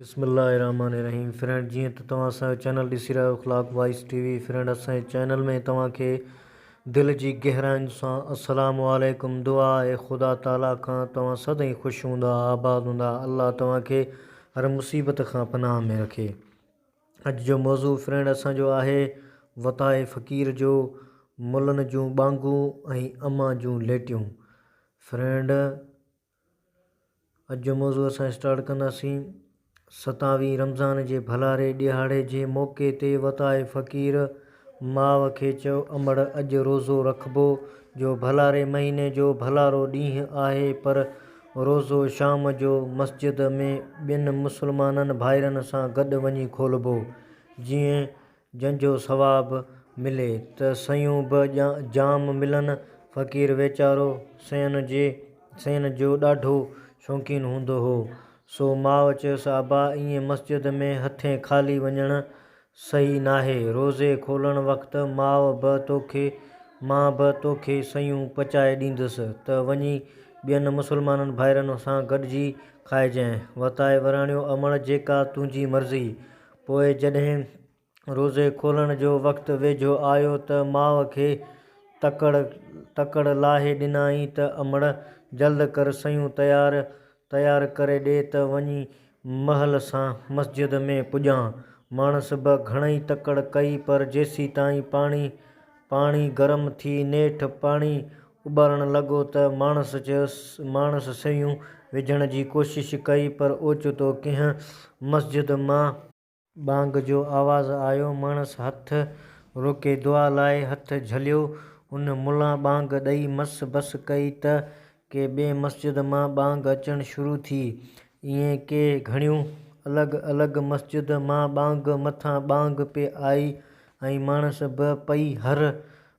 بسم الله الرحمٰن الرحيم فرينڊ جيئن ته توهان اسان جو چينل ڏسي رهيا آهيو اخلاق وائس ٽي وي فرينڊ اسان جي چينل ۾ توهان کي دل جي گهراين سان السلام عليڪم دعا آهي خدا تعالي کان توهان سدائين خوش هوندا آباد هوندا الله توهان کي هر مصيبت کان پناهه ۾ رکي اڄ جو موضوع فرينڊ اسان جو آهي وتاء فقير جو ملن جون ٻانگون ۽ امان جون ليٽيون فرينڊ اڄ جو موضوع اسان اسٽارٽ ڪنداسين ستاوي رمضان جي ڀلاري ڏيھاڙي جي موقعي تي وتائي فقير ماء کي چيو امڙ اڄ روزو رکبو جو ڀلاري مھيني جو ڀلارو ڏينھن آھي پر روزو شام جو مسجد ۾ ٻين مسلمان ڀائرن سان گڏ وڃي کولبو جيئن جنهن جو ثواب ملي ته سيون به جام ملن. فقير ويچارو سين جي سين جو ڏاڍو شوقين هوندو هو، سو ماء چيس ابا ائين مسجد ۾ هٿين خالي وڃڻ صحيح ناهي، روزي کولڻ وقت ماء به توکي مان به توکي سيون پچائي ڏيندس ته وڃي ٻين مسلمانن ڀائرن سان گڏجي کائجانء، وتائي وراڻيو امڙ جيڪا تنهنجي مرضي. پوء جڏهن روزي کولڻ جو وقت ويجهو آيو ته ماء کي تڪڙ تڪڙ لاهي ڏنائين ته امڙ جلد ڪر سيون تيار تيار ڪري ڏي ته وڃي مهل سان مسجد ۾ پڄان. ماڻس به گهڻئي تڪڙ ڪئي پر جيسيتائين پاڻي پاڻي گرم ٿي نيٺ پاڻي اٻارڻ لڳو ته ماڻس چيس، ماڻس سيون وجهڻ جي ڪوشش ڪئي پر اوچتو ڪنهن مسجد مان. ٻانگ جو آواز آيو، ماڻس هٿ روڪي دعا لاء هٿ جهليو، ان ملا ٻانگ ڏئي مس بس ڪئي ته ڪي ٻي مسجد مان ٻانگ اچڻ شروع ٿي، ائين ڪي گهڻيون الڳ الڳ مسجد مان ٻانگ مٿان ٻانگ پئي آئي ۽ ماڻس به پئي هر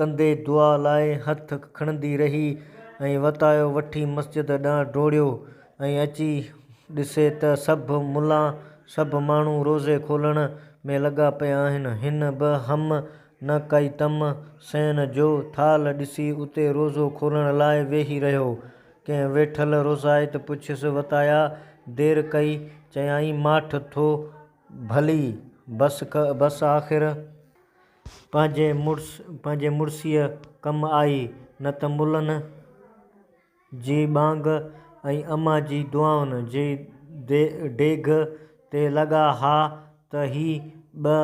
ڪندي دعا لاء هٿ کڻندي رهي ۽ وتايو وٺي مسجد ڏانهن ڊوڙيو ۽ اچي ڏسي ته سڀ ملا سڀ ماڻهو روزي کولڻ ۾ لڳا پيا آهن. هن به هم نه ڪئي تم سين جو ٿالهه ڏسي اتي روزو کولڻ لاء ويهي رهيو. ڪنهن ويٺل روزائت پڇيس وتايا دير ڪئي؟ چيائين ماٺ ٿو ڀلي بس آخر. پنهنجي مڙس پنهنجي مڙسيء ڪم آئي، نه ته ملن جي ٻانگ ۽ اما جي دعائن جي ڊيگهه تي لڳا ها ته هي ٻه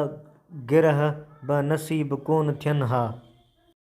گرهه به نصيب ڪونه ٿين ها.